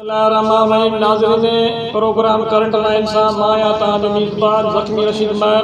الله الرحمان الرحيم ناظرين پروگرام ڪرنٽ لائين سان مان آهيان توهان جو ميزبان زخمي رشيد مهر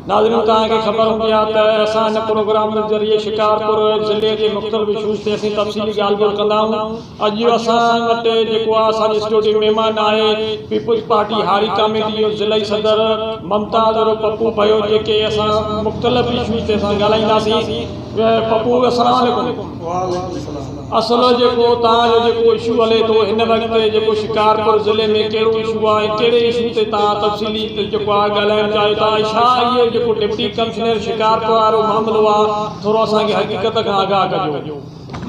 ناظرين توهان کي خبر هوندي آهي ته اسان هن پروگرام جي ذريعي شڪارپور ضلعي جي مختلف اشوز تي اسين تفصيلي ڳالهه ٻولهه ڪندا آهيون اڄ جو اسان وٽ جيڪو آهي اسان جي اسٽوڊيو ۾ مهمان آهي پيپلز پارٽي هاري ڪاميٽي جو ضلعي صدر ممتاز عرف پپو ڀيو جيڪي اسان مختلف اشوز تي اسان ڳالهائينداسين پپو السلام عليڪم. وعليڪم السلام. اصل جيڪو توهان جو جيڪو اشو هلي ٿو هن وقت جيڪو شڪارپور ضلعي ۾ ڪهڙو اشو آهي ۽ ڪهڙي اشو تي توهان تفصيلي جيڪو آهي ڳالهائڻ چاهيو ٿا ۽ ڇا اهو جيڪو ڊپٽي ڪمشنر شڪارپور وارو معاملو آهي ٿورو اسان کي حقيقت کان آگاهه ڪجو.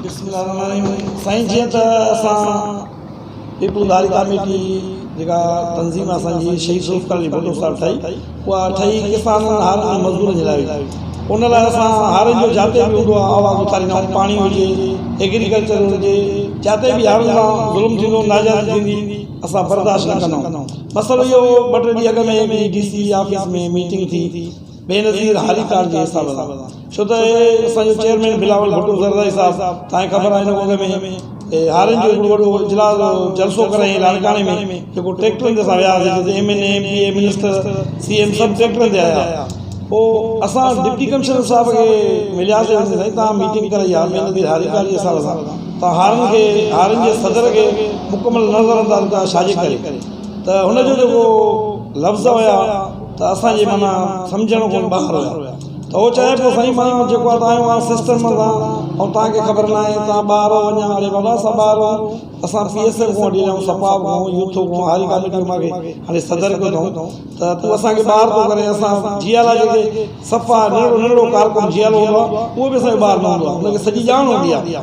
بسم الله الرحمن الرحيم سائين جيئن ته اسان هڪ اداري ڪاميٽي جيڪا تنظيم اسان جي شهيد ذوالفقار علي ڀٽو صاحب ٺاهي اها ٺهي ڪسانن هارين ۽ مزدورن جي لاء هئي ان لاء اسان هارين جو جاتي به هوندو آهي آواز اٿاريندا آهيون پاڻي هجي ايگريڪلچر هجي جاتي به هارين سان ظلم ٿيندو ناجائز ٿيندي اسان برداشت نه ڪندا آهيون مسئلو اهو هو ٻه ٽي ڏينهن اڳ ۾ ڊي سي آفيس ۾ ميٽنگ ٿي بينظير هاليڪار جي حساب سان ڇو ته اسان جو چيئرمين بلاول ڀٽو زرداري صاحب توهان کي خبر آهي هن اڳ ۾ هارين جو هڪڙو وڏو اجلاس جلسو ڪرايائين لاڙڪاڻي ۾ جيڪو ٽريڪٽرن تي اسان وياسين جتي M N A M P A minister C M سڀ ٽريڪٽرن تي آيا پوء اسان ڊپٽي ڪمشنر صاحب کي ملياسين چيائين سائين توهان ميٽنگ ڪرائي آ بينظير هاليڪار جي حساب سان توهان هارين کي هارين جي صدر کي مڪمل نظرانداز ڪيو آهي ڇاجي ڪري ته هن جو جيڪو لفظ هيا ته اسان جي معنيٰ سمجهڻ کان ٻاهر هيا ته هو چوي پيو سائين مان جيڪو آهي آيو آهيان سسٽم سان ۽ توهان کي خبر ناهي توهان ٻاهر هو اڃان اڙي بابا اسان ٻاهر هون اسان پي ايس ايف کان وٺي ڄائون صفاء کان يوٿ کان هاري ڪاميٽي مان کي هاڻي صدر ڪيو اٿائون ته تون اسان کي ٻاهر ٿو ڪرين اسان جي آلا جيڪي صفا ننڍڙو ننڍڙو ڪارڪن جي آلو هوندو آهي اهو به اسان جو ٻاهر نه هوندو آهي ان کي سڄي ڄاڻ هوندي آهي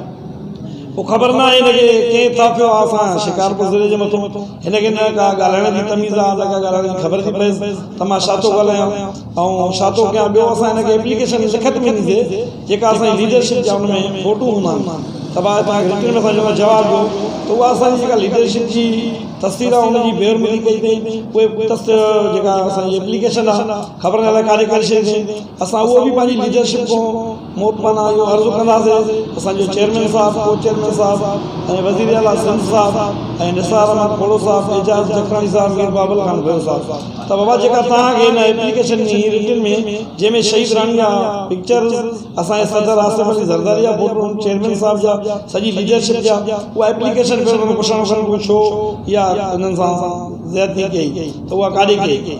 پوء خبر نه آهي هن کي ڪنهن ٿاڦيو آ اسان شڪارپور ضلعي جي مٿو هن کي نه ڪا ڳالهائڻ جي تميز آ نه ڪا ڳالهائڻ جي خبر ٿي پيس ته مان ڇا ٿو ڳالهايان ۽ ڇا ٿو ڪيان ٻيو اسان هن کي ايپليڪيشن لکت ۾ ڏيندي جيڪا اسان جي ليڊرشپ جا ان ۾ فوٽو هوندا آهن ته ڀاء توهان کي رٽن ۾ اسان جيڪا جواب ڏيون ته اها اسان جي جيڪا ليڊرشپ جي تصوير آ ان جي بيرملي ڪئي تئين پوء تص جيڪا اسان جي ايپليڪيشن آ خبر نه الائي ڪاڏي ڪري ڇڏي تئين اسان اهو به پنهنجي ليڊرشپ کان موٽ پاڻان اهو عرض ڪنداسين ته اسان جو چيئرمين صاحب، ڪو چيئرمين صاحب ۽ وزير اعليٰ سنڌ صاحب ۽ نثار احمد کوڙو صاحب، اعجاز جکراڻي صاحب، مير بابل خان ڀيڙو صاحب ته بابا جيڪا توهان کي هن ايپليڪيشن ۾ هي رٽن ۾ جنهن ۾ شهيد رحمان جا پڪچرز، اسان جي صدر آصف علي زرداري جا فوٽون، چيئرمين صاحب جا، سڄي ليڊرشپ جا اها ايپليڪيشن پيو ڪرڻ پڇڻ ڪرڻ ڪو ڇو اها انهن سان زيادتي ڪئي ته اها ڪاڏي ڪئي؟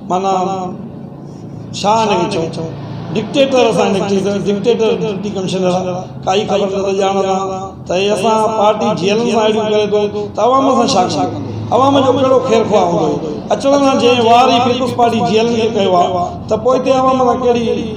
معنيٰ ڇا آهن اهي چئو؟ ڊڪٽيٽر اسان جا ڊڪٽيٽر، ڊڪٽيٽر ڊپٽي ڪمشنر آهي، ڪائي خبر نه ته ڄاڻ ڏان ته هي اسان پارٽي جيلن سان اهڙيون ڪري ٿو ته عوام سان ڇا ڪندو؟ عوام جو ڪهڙو خير خواه هوندو؟ اچڻ سان جنهن وار ئي پيپلز پارٽي جيلن کي ڪيو آهي ته پوء هتي عوام سان ڪهڙي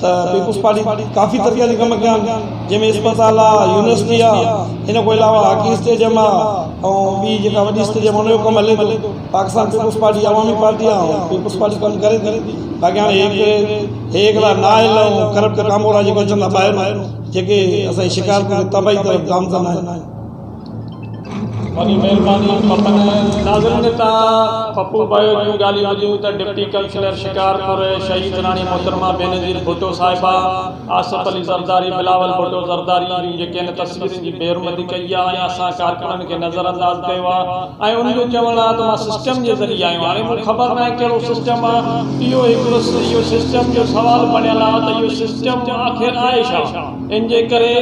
ته پيپلز پارٽي ڪافي ترقياتي ڪم ڪيا آهن جنهن ۾ اسپتال آ يونيورسٽي آ ان کان علاوه هاڪي اسٽيڊيم آ ۽ ٻي جيڪا وڏي اسٽيڊيم آ ان جو ڪم هلي ٿو Pakistan Peoples Party Awami Party آ ۽ پيپلز پارٽي ڪم ڪري ٿي باقي هاڻي هي هڪڙي هي هڪڙا نااهل ۽ ڪرپٽ ڪامورا جيڪي اچن ٿا ٻاهرون جيڪي اسان جي شڪارپور کي تباهي طرف گامزن آهن وڏي مهرباني پپن. ناظرين اتان پپو ڀائيء جون ڳالهيون ٻڌيون ته ڊپٽي ڪمشنر شڪارپور شهيد راڻي محترمه بينظير ڀٽو صاحبه، آصف علي زرداري، بلاول ڀٽو زرداري جون جيڪي هن تصويرن جي بي حرمتي ڪئي آهي ۽ اسان ڪارڪنن کي نظر انداز ڪيو آهي ۽ ان جو چوڻ آهي ته مان سسٽم جي ذريعي آيو هاڻي مون کي خبر ناهي ڪهڙو سسٽم آهي اهو هڪڙو اهو سسٽم جو سوال بڻيل آهي ته اهو سسٽم آخر آهي ڇا؟ ان جي ڪري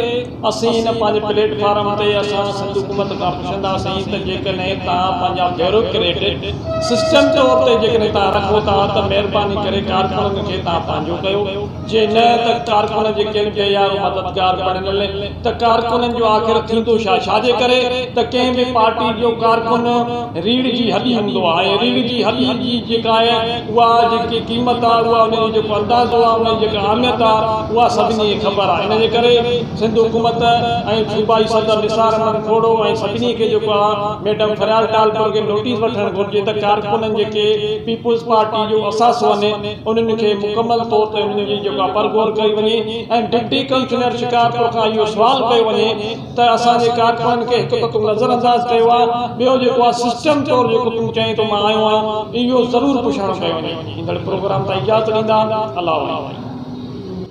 اسين هن پنهنجي پليٽ فارم تي اسان سنڌ حڪومت کان پڇنداسين ته جيڪڏهن توهان پنهنجا بيوروڪريٽ سسٽم طور تي جيڪڏهن توهان رکو ٿا ته مهرباني ڪري ڪارڪنن کي توهان پنهنجو ڪيو جي نه ته ڪارڪنن جي ڪن بي يارو مددگار بڻيل ته ڪارڪنن جو آخر ٿيندو ڇا ڇا جي ڪري ته ڪنهن به پارٽي جو ڪارڪن ريڙهه جي هڏي هوندو آهي ۽ ريڙهه جي هڏي جي جيڪا آهي اها جيڪي قيمت آهي اها ان جو جيڪو اندازو آهي ان جي جيڪا اهميت آهي اها سڀني کي خبر آهي ان جي ڪري سنڌ حڪومت ۽ صوبائي صدر نثار احمد کوڙو ۽ سڀني کي جيڪو آهي ميڊم فريال ٽالپر کي نوٽيس وٺڻ گهرجي ته ڪارڪنن جيڪي پيپلز پارٽي جو اثاثو آهن انهن کي مڪمل طور تي انهن جي جيڪو آهي پرگهور ڪئي وڃي ۽ ڊپٽي ڪمشنر شڪارپور کان اهو سوال ڪيو وڃي ته اسان جي ڪارڪنن کي هڪ ته تون نظر انداز ڪيو آهي ٻيو جيڪو آهي سسٽم طور جيڪو تون چئين ٿو مان آيو آهيان اهو ضرور پڇاڻو ڪيو وڃي ايندڙ پروگرام تان اجازت ڏيندا الله وائي.